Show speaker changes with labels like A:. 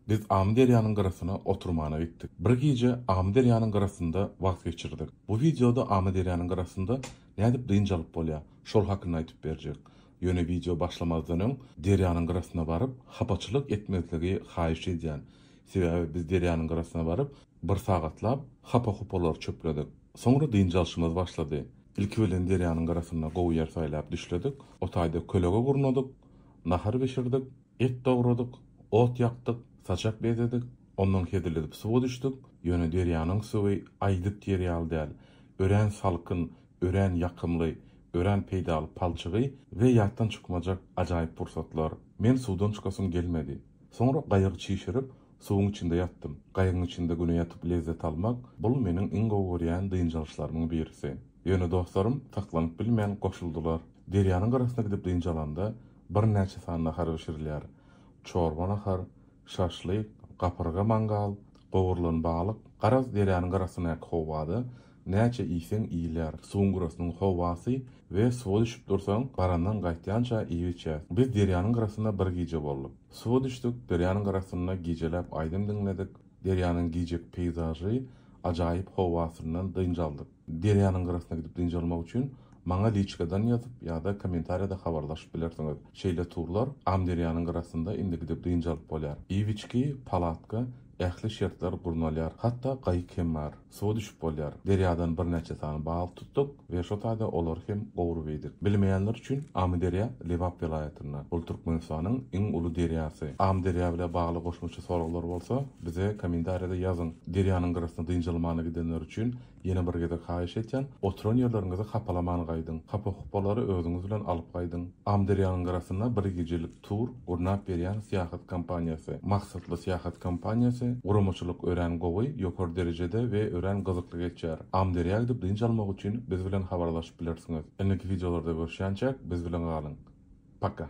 A: Biz Amyderýanyň gyrasyna oturmana gitdik. Bir gije Amyderýanyň gyrasynda wagt geçirdik. Bu wideoda Amyderýanyň gyrasynda nädip dynç alyp bolýar, şol hakynda aýdyp berjek. Ýöne wideo başlamazdan öň derýanyň gyrasyna baryp hapaçylyk etmezligi haýyş edýän. Sebäbi biz derýanyň gyrasyna baryp bir sagatlap hapa-hupalary çöpledik. Soňra dynç alşymyz başlady. Ilki bilen derýanyň gyrasynda gowy ýer saýlap düşledik. O taýda kölege gurnadyk, nahar bişirdik. Et dogradyk, ot ýakdyk, saçak bezedik, ondan hezil edip suwa düşdük, ýöne derýanyň suwy aýdyp ýer ýaly däl, örän salkyn, örän ýakymly, örän peýdaly palçygy we ýatdan çykmajak ajaýyp pursatlar. Men suwdan çykasym gelmedi. Soňra gaýygy çişirip, suwuň içinde ýatdym. Gaýygyň içinde güne ýatyp lezzet almak, bul meniň iň gowy görýän dynç alyşlarymyň birisi. Ýöne dostlarym saklanyp bilmän goşuldylar. Derýanyň gyrasyna gidip dynç alanda, Birnäçe sany nahar bişirilýär. Çorba nahar, şaşlyk, gapyrga mangal, gowrulan balyk, garaz derýanyň gyrasyndaky howada näçe iýseň iýilýär. Suwuň gyrasynyň howasy we suwa düşüp dursaň, barandan gaýtýança iýip-içýäs. Biz derýanyň gyrasynda bir gije bolduk. Suwa düşdük, derýanyň gyrasynda gijeläp aýdym diňledik, derýanyň gijeki peýzažy, ajaýyp howasyndan dynç aldyk. Derýanyň gyrasyna gidip dynç almak üçin maňa liçkadan ýazyp ýa-da kommentariýada habarlaşyp bilersiňiz. Şeýle turlar Amyderýanyň gyrasynda indi gidip dynç alyp bolýar. Iwiçki, palatka, ähli şertler gurnalýar. Hatda gaýyk hem bar. Suwa düşüp bolýar. Derýadan birnäçe sany balyk tutduk we şo taýda olary hem gowrup iýdik. Bilmeýänler üçin Amyderýa Lebap welaýatynda. Ol Türkmenistanyň iň uly derýasy. Amyderýa bile bagly goşmaça soraglar bolsa bize kommentariýada ýazyň. Derýanyň gyrasyna dynç almana gidenler üçin Ýene bir gezek haýyş etýän, oturan ýerleriňizi hapalaman gaýdyň. Hapa-hupalary özüňiz bilen alyp gaýdyň. Amyderýanyň gyrasynda bir gijelik tur gurnap berýän syýahat kompaniýasy, maksatly syýahat kompaniýasy, guramaçylyk örän gowy, ýokary derejede we örän gyzykly geçýär. Amyderýa gidip dynç almak üçin biz bilen habarlaşyp bilersiňiz. Indiki wideolarda görüşýänçäk biz bilen galyň. Paka!